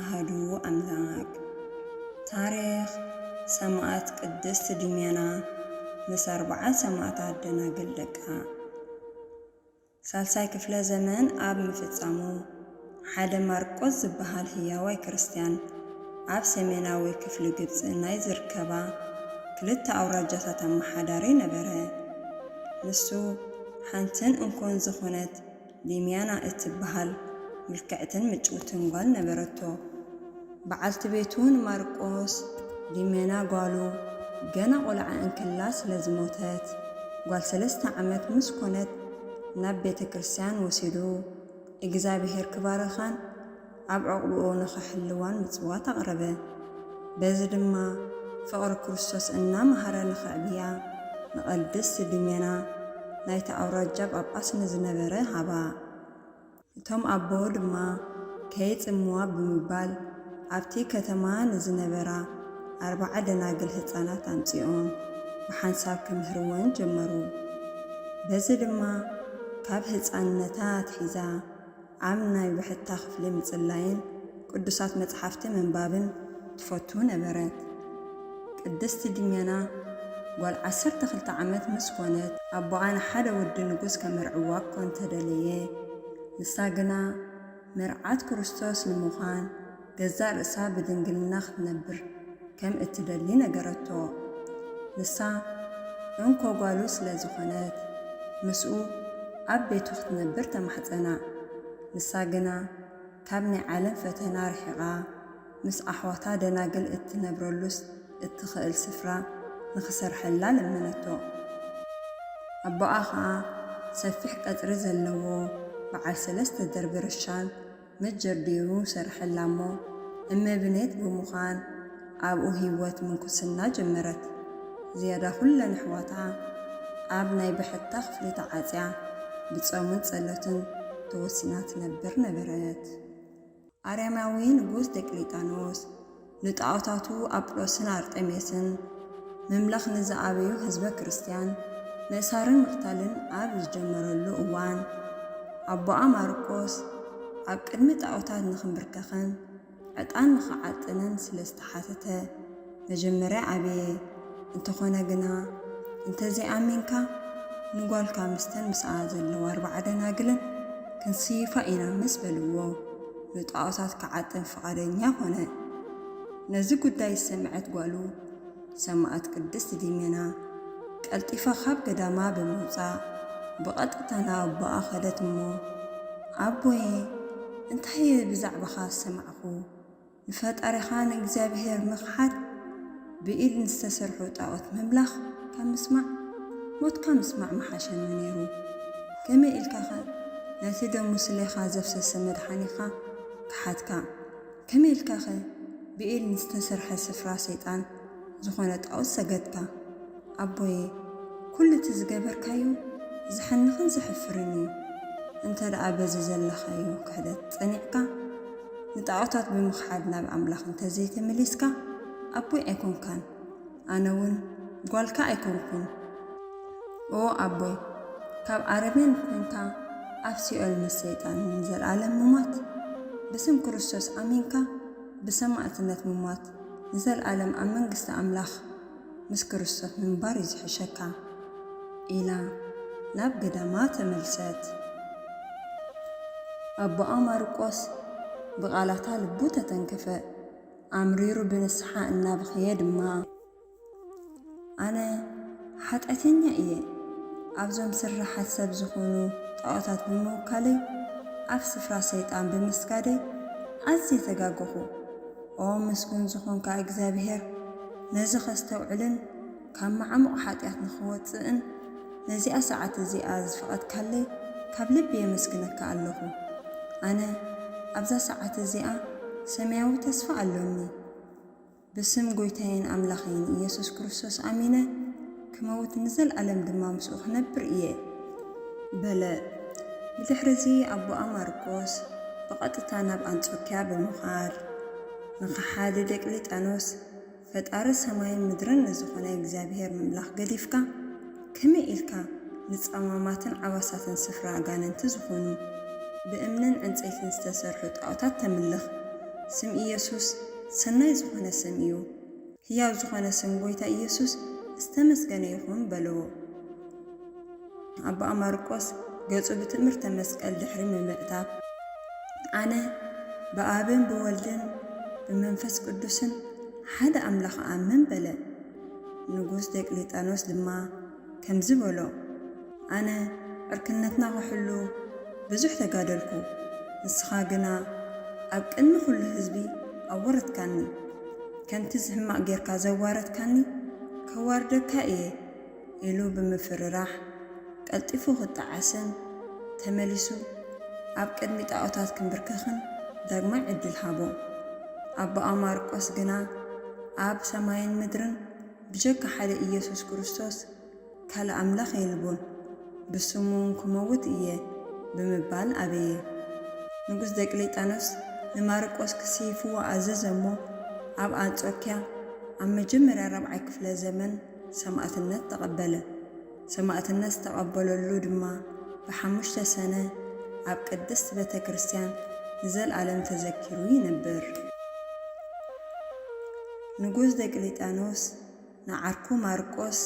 ኣሃዱ ኣምላክ። ታሪኽ ሰማእት ቅድስት ድሜና ምስ ኣርብዓን ሰማእታት ደናግል ደቃ። ሳልሳይ ክፍለ ዘመን ኣብ ምፍጻሙ፣ ሓደ ማርቆስ ዝበሃል ህያዋይ ክርስትያን ኣብ ሰሜናዊ ክፍሊ ግብጺ ናይ ዝርከባ ክልተ ኣውራጃታት ኣመሓዳሪ ነበረ። ንሱ ሓንትን እንኮን ዝኾነት ዴምያና እትበሃል ምልክዕትን ምጭውትን ጓል ነበረቶ። በዓልቲ ቤቱ ንማርቆስ፣ ዴምያና ጓሉ፣ ገና ቈልዓ እንክላ ስለ ዝሞተት፣ ጓል ሰለስተ ዓመት ምስ ኰነት ናብ ቤተ ክርስትያን ወሲዱ እግዝኣብሄር ክባርኻን፣ ኣብ ዕቝብኡ ንኽሕልዋን ምጽዋት ኣቕረበ። በዚ ድማ ፍቕሪ ክርስቶስ እናመሃረ ንኽዕብያ ንቐድስት ድሜና ናይቲ ኣውራጃ ጳጳስ ንዝነበረ ሃባ። እቶም ኣቦ ድማ ከይጽምዋ ብምባል ኣብቲ ከተማ ንዝነበራ ኣርብዓ ደናግል ህጻናት ኣምጺኦም ብሓንሳብ ክምህርወን ጀመሩ። በዚ ድማ ካብ ህጻንነታ ኣትሒዛ። ኣብ ናይ ውሕጥታ ክፍሊ ምጽላይን ቅዱሳት መጽሓፍቲ ምንባብን ትፈቱ ነበረት። ቅድስቲ ዲሜና ጓል ዓሰርተ ክልተ ዓመት ምስ ኰነት፣ ኣቦኣ ንሓደ ወዲ ንጉስ ኬመርዕዋ እኳ እንተ ደለየ፣ ንሳ ግና መርዓት ክርስቶስ ንምዃን ገዛእ ርእሳ ብድንግልና ክትነብር ከም እትደሊ ነገረቶ። ንሳ እንኮ ጓሉ ስለ ዝዀነት፣ ምስኡ ኣብ ቤቱ ክትነብር ተማሕጸና። ንሳ ግና ካብ ናይ ዓለም ፈተና ርሒቓ፣ ምስ ኣሕዋታ ደናግል እትነብረሉስ እትኽእል ስፍራ ንኽሰርሐላ ለመነቶ። ኣቦኣ ኸኣ ሰፊሕ ቀጽሪ ዘለዎ በዓል ሰለስተ ደርቢ ርሻን መጀቢሩ ሰርሐላ'ሞ እመብኔት ብምዃን ኣብኡ ህይወት ምንኩስና ጀመረት። ዝያዳ ኩለን ኣሕዋታ ኣብ ናይ ብሕታ ክፍሊ ተዓጽያ ብጾምን ጸሎትን ተወሲና ትነብር ነበረት። ኣርያማዊ ንጉስ ደቅሊጣኖስ፣ ንጣኦታቱ ኣጵሎስን ኣርጤሜስን ምምላኽ ንዝኣበዩ ሕዝበ ክርስቲያን ምእሳርን ምቕታልን ኣብ ዝጀመረሉ እዋን ኣቦኣ ማርቆስ ኣብ ቅድሚ ጣኦታት ንኽምብርከኽን ዕጣን ንኽዓጥንን ስለ ዝተሓተተ መጀመርያ ኣበየ። እንተኾነ ግና እንተዘይኣሚንካ ንጓልካ ምስተን ምስኣ ዘለዋ ኣርባዓ ደናግልን ክንስይፋ ኢና ምስ በልዎ፣ ንጣኦታት ክዓጥን ፍቓደኛ ዀነ። ነዚ ጕዳይ ዝሰምዐት ጓሉ ሰማእት ቅድስት ዲሜና፣ ቀልጢፋ ኻብ ገዳማ ብምውጻእ ብቐጥታ ናብ ኣቦኣ ኸደት እሞ፣ ኣቦየ፣ እንታይ እየ ብዛዕባኻ ዝሰማዕኩ? ንፈጣሪኻ ንእግዚኣብሄር ምኽሓድ! ብኢድ ንዝተሰርሑ ጣኦት ምምላኽ ካብ ምስማዕ ሞትካ ምስማዕ ምሓሸኒ ነይሩ። ከመይ ኢልካኸ ነቲ ደሙ ስሌኻ ዘፍሰሰ መድሓኒኻ ከሓድካ? ከመይ ኢልካኸ ብኢድ ንዝተሰርሐ ስፍራ ሰይጣን ዝኾነ ጣኦት ሰገድካ? ኣቦየ ኩሉ እቲ ዝገበርካዮ ዘሕንኽን ዘሕፍርን እዩ እንተ ደኣ በዚ ዘለኻዮ ክሕደት ጸኒዕካ ንጣዖታት ብምኽሓድ ናብ ኣምላኽ እንተ ዘይተመሊስካ ኣቦይ ኣይኮንካን ኣነ እውን ጓልካ ኣይኮንኩን ኦ ኣቦይ ካብ ኣረሜን ኮንካ ኣብ ሲኦል ምስ ሰይጣን ንዘልኣለም ምሟት ብስም ክርስቶስ ኣሚንካ ብሰማእትነት ምሟት ንዘልኣለም ኣብ መንግስቲ ኣምላኽ ምስ ክርስቶስ ምንባር እዩ ዝሕሸካ ኢላ ናብ ገዳማ ተመልሰት። ኣቦኣ ማርቆስ ብቓላታ ልቡ ተተንከፈ። ኣምሪሩ ብንስሓ እናበኸየ ድማ፣ ኣነ ሓጢኣተኛ እየ፣ ኣብዞም ስርሓት ሰብ ዝኾኑ ጣኦታት ብምውካለይ፣ ኣብ ስፍራ ሰይጣን ብምስጋደይ ኣዝየ ተጋገኹ። ኦ ምስጉን ዝኾንካ እግዚኣብሄር፣ ነዚ ከስተውዕልን ካብ መዓሙቕ ሓጢኣት ንኽወጽእን ነዚኣ ሰዓት እዚኣ ዝፈቐድካለይ ካብ ልቢ የመስግነካ ኣለኹ። ኣነ ኣብዛ ሰዓት እዚኣ ሰማያዊ ተስፋ ኣሎኒ። ብስም ጎይታየን ኣምላኸይን ኢየሱስ ክርስቶስ ኣሚነ። ክመውት ንዘልኣለም ድማ ምስኡ ክነብር እየ በለ። ብድሕርዚ ኣቦኣ ማርቆስ ብቐጥታ ናብ ኣንጾክያ ብምኻድ ንኸሓዲ ዴቅሊጣኖስ ፈጣሪ ሰማይን ምድርን ንዝኾነ እግዚኣብሔር ምምላኽ ገዲፍካ ከመይ ኢልካ ንጸማማትን ዓባሳትን ስፍራ ኣጋንንቲ ዝኾኑ ብእምንን ዕንጸይትን ዝተሰርሑ ጣኦታት ተምልኽ ስም ኢየሱስ ሰናይ ዝኾነ ስም እዩ ህያው ዝኾነ ስም ጎይታ ኢየሱስ ዝተመስገነ ይኹን በልዎ። ኣቦኣ ማርቆስ ገጹ ብትእምርተ መስቀል ድሕሪ ምምእታብ፣ ኣነ ብኣብን ብወልድን ብመንፈስ ቅዱስን ሓደ ኣምላኽ እኣምን በለ። ንጉስ ዲዮቅሌጣኖስ ድማ ከምዚ በሎ፣ ኣነ ዕርክነትና ክሕሉ ብዙሕ ተጋደልኩ፣ ንስኻ ግና ኣብ ቅድሚ ኹሉ ህዝቢ ኣወረድካኒ። ከምቲ ዝሕማቕ ጌርካ ዘዋረድካኒ ከዋርደካ እየ ኢሉ ብምፍርራሕ ቀልጢፉ ክጣዓስን ተመሊሱ ኣብ ቅድሚ ጣኦታት ክምብርከኽን ዳግማይ ዕድል ሃቦ። ኣቦኣ ማርቆስ ግና ኣብ ሰማይን ምድርን ብጀካ ሓደ ኢየሱስ ክርስቶስ ካልእ ኣምላኽ የልቦን፣ ብስሙውን ክመውት እየ ብምባል ኣበየ። ንጉስ ደቅሌጣኖስ ንማርቆስ ክስይፍዎ ኣዘዘ እሞ፣ ኣብ ኣንጾክያ ኣብ መጀመርያ ራብዓይ ክፍለ ዘመን ሰማእትነት ተቐበለ። ሰማእትነት ዝተቐበለሉ ድማ ብሓሙሽተ ሰነ ኣብ ቅድስት ቤተ ክርስቲያን ንዘልኣለም ተዘኪሩ ይነብር። ንጉስ ዲዮቅልጥያኖስ ንዓርኩ ማርቆስ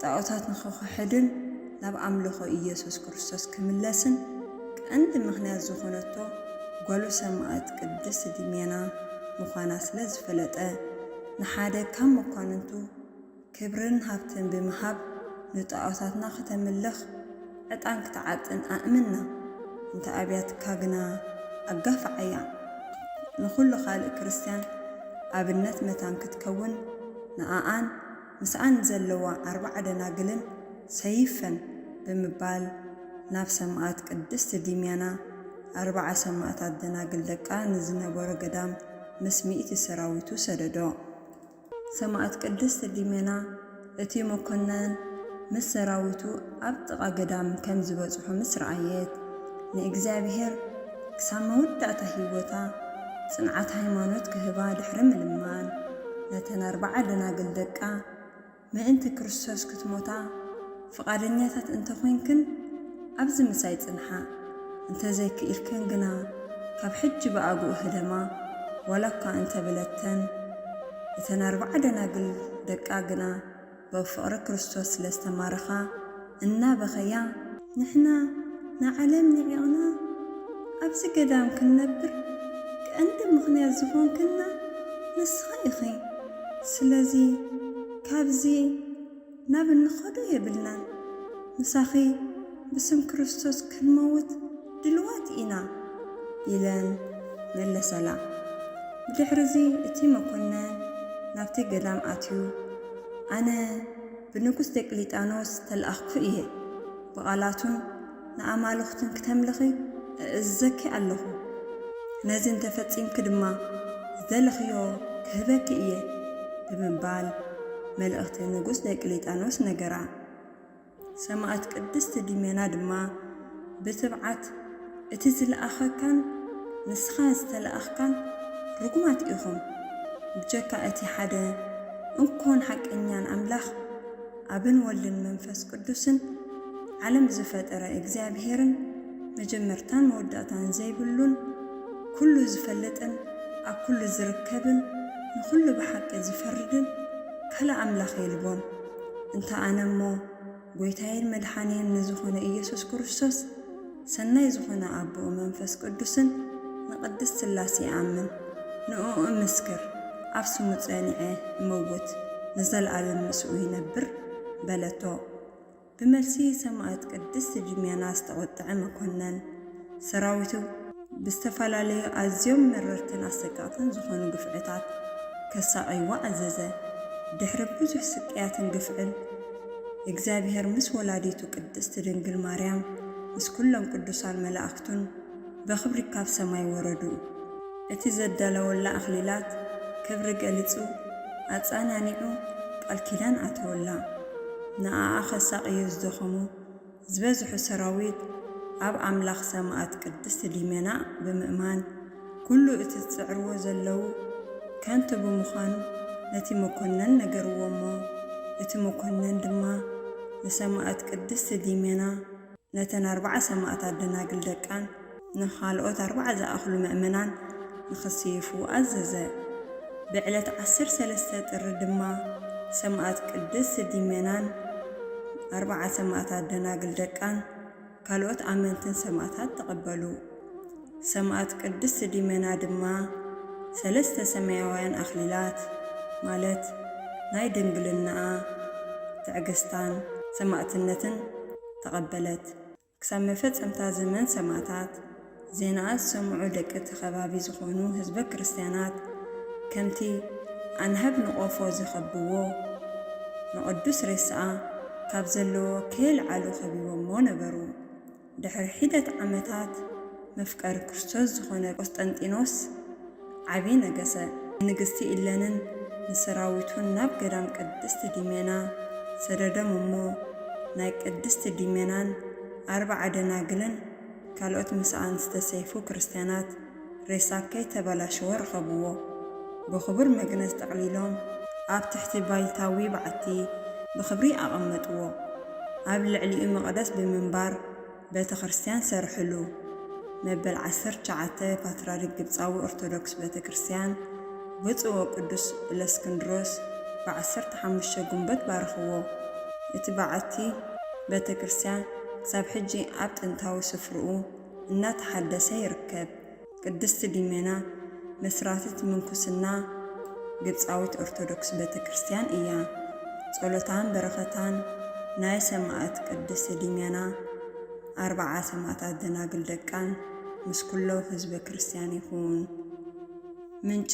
ጣኦታት ንኽኽሕድን ናብ ኣምልኾ ኢየሱስ ክርስቶስ ክምለስን ቀንዲ ምኽንያት ዝኾነቶ ጓሉ ሰማእት ቅድስት ዲሜና ምዃና ስለ ዝፈለጠ ንሓደ ካብ መኳንንቱ ክብርን ሃብትን ብምሃብ ንጣኦታትና ክተምልኽ ዕጣን ክትዓጥን ኣእምና። እንተ ኣብያትካ ግና ኣጋፍዓያ። ንኹሉ ካልእ ክርስትያን ኣብነት መታን ክትከውን ንኣኣን ምስኣን ንዘለዋ ኣርብዓ ደናግልን ሰይፈን ብምባል ናብ ሰማእት ቅድስት ዲምያና ኣርብዓ ሰማእታት ደናግል ደቃ ንዝነበሮ ገዳም ምስ ሚእቲ ሰራዊቱ ሰደዶ። ሰማእት ቅድስት ሊመና እቲ መኮነን ምስ ሰራዊቱ ኣብ ጥቓ ገዳም ከም ዝበጽሑ ምስ ረኣየት፣ ንእግዚኣብሔር ክሳብ መወዳእታ ሕይወታ ጽንዓት ሃይማኖት ክህባ ድሕሪ ምልማን፣ ነተን ኣርብዓ ደናግል ደቃ ምእንቲ ክርስቶስ ክትሞታ፣ ፍቓደኛታት እንተ ዄንክን፣ ኣብዚ ምሳይ ጽንሓ። እንተ ዘይክኢልክን ግና፣ ካብ ሕጂ ብኣግኡ ህደማ። ዋላ እኳ እንተ በለተን፣ እተን ኣርብዓ ደናግል ደቃ ግና ብ ፍቕሪ ክርስቶስ ስለ ዝተማረኻ፣ እናበኸያ፣ ንሕና ንዓለም ንዒቕና ኣብዚ ገዳም ክንነብር ቀንዲ ምኽንያት ዝዀንክና ንስኺ ኢኺ፣ ስለዚ ካብዚ። ናብ እንኸዶ የብልናን ምሳኺ ብስም ክርስቶስ ክንመውት ድልዋት ኢና ኢለን መለሰላ ብድሕርዚ እቲ መኮነን ናብቲ ገዳም ኣትዩ ኣነ ብንጉስ ዲዮቅሊጣኖስ ዝተልኣኽኩ እየ ብቓላቱን ንኣማልኽቱን ክተምልኺ እእዝዘኪ ኣሎኹ፣ ነዚ እንተ ፈጺምኪ ድማ ዝደለኽዮ ክህበኪ እየ ብምባል መልእኽቲ ንጉስ ዲዮቅሊጥያኖስ ነገራ። ሰማእት ቅድስቲ ዲሜና ድማ ብትብዓት እቲ ዝለኣኸካን ንስኻ ዝተለኣኽካን ርጉማት ኢኹም፣ ብጀካ እቲ ሓደ እንኮን ሓቀኛን ኣምላኽ፣ ኣብን ወልድን መንፈስ ቅዱስን፣ ዓለም ዝፈጠረ እግዚኣብሄርን፣ መጀመርታን መወዳእታን ዘይብሉን፣ ኩሉ ዝፈልጥን፣ ኣብ ኩሉ ዝርከብን፣ ንኹሉ ብሓቂ ዝፈርድን፣ ካልእ ኣምላኽ የልቦን። እንተ ኣነ እሞ፣ ጎይታዬን መድሓንዬን ንዝኾነ ኢየሱስ ክርስቶስ፣ ሰናይ ዝኾነ ኣቦኡ መንፈስ ቅዱስን ንቅድስት ስላሴ ይኣምን ንእኡ እምስክር ኣብ ስሙ ጸኒዐ እመውት ንዘልኣለም ምስኡ ይነብር በለቶ ብመልሲ ሰማእት ቅድስት ጂሚያና ዝተቆጠዐ መኮነን ሰራዊቱ ብዝተፈላለዩ ኣዝዮም መረርትን ኣሰቀቅትን ዝኾኑ ግፍዕታት ከሳቅይዎ ኣዘዘ ድሕሪ ብዙሕ ስቅያትን ግፍዕን እግዚኣብሔር ምስ ወላዲቱ ቅድስት ድንግል ማርያም ምስ ኩሎም ቅዱሳን መላእክቱን በክብሪ ካብ ሰማይ ወረዱ። እቲ ዘዳለወላ ኣክሊላት ክብሪ ገሊጹ ኣጻናኒዑ ቃል ኪዳን ኣተወላ። ንኣኣ ከሳቅዩ ዝደኸሙ ዝበዝሑ ሰራዊት ኣብ ኣምላኽ ሰማእት ቅድስት ሊመና ብምእማን ኩሉ እቲ ዝጽዕርዎ ዘለዉ ከንቱ ብምዃኑ ነቲ መኮነን ነገርዎ እሞ እቲ መኮነን ድማ ንሰማእት ቅድስት ሊመና ነተን ኣርብዓ ሰማእታት ደናግል ደቃን ንኻልኦት ኣርባዓ ዝኣኽሉ ምእመናን ንኽስይፉ ኣዘዘ። ብዕለት ዓሰርተ ሰለስተ ጥሪ ድማ ሰማእት ቅድስት ዲሜናን ኣርባዓ ሰማእታት ደናግል ደቃን ካልኦት ኣመንትን ሰማእታት ተቐበሉ። ሰማእት ቅድስት ዲሜና ድማ ሰለስተ ሰማያውያን ኣኽሊላት ማለት ናይ ድንግልናኣ፣ ትዕግስታን ሰማእትነትን ተቐበለት። ክሳብ መፈጸምታ ዘመን ሰማእታት፣ ዜናኣ ዝሰምዑ ደቂ እቲ ከባቢ ዝኾኑ ህዝበ ክርስቲያናት፣ ከምቲ ኣናህብ ንቆፎ ዝኸብብዎ፣ ንቕዱስ ሬሳኣ ካብ ዘለዎ ከየልዓሉ ከቢቦሞ ነበሩ። ድሕሪ ሒደት ዓመታት፣ መፍቀሪ ክርስቶስ ዝኾነ ቆስጠንጢኖስ፣ ዓቢ ነገሰ። ንንግስቲ ኢለንን ንሰራዊቱን ናብ ገዳም ቅድስት ዲሜና ሰደዶም እሞ ናይ ቅድስት ዲሜናን ኣርብዓ ደናግልን ካልኦት ምሳኣን ዝተሰይፉ ክርስትያናት ሬሳ ከይተበላሸወ ረኸብዎ ብኽቡር መግነዝ ጠቕሊሎም ኣብ ትሕቲ ባይታዊ በዓቲ ብኽብሪ ኣቐመጥዎ ኣብ ልዕሊኡ መቕደስ ብምንባር ቤተክርስትያን ሰርሕሉ። መበል ዓሰርተ ትሽዓተ ፓትርያርክ ግብጻዊ ኦርቶዶክስ ቤተክርስትያን ብፁዕ ወቅዱስ እለስክንድሮስ ብ ዓሰርተ ሓሙሽተ ጉንበት ባርኽዎ። እቲ በዓቲ ቤተክርስትያን ክሳብ ሕጂ ኣብ ጥንታዊ ስፍርኡ እናተሓደሰ ይርከብ። ቅድስት ዲሜና መስራትት ምንኩስና ግብጻዊት ኦርቶዶክስ ቤተ ክርስቲያን እያ። ጸሎታን በረኸታን ናይ ሰማእት ቅድስት ዲሜና ኣርብዓ ሰማእታት ደናግል ደቃን ምስ ኩሎ ህዝበ ክርስቲያን ይኹን። ምንጪ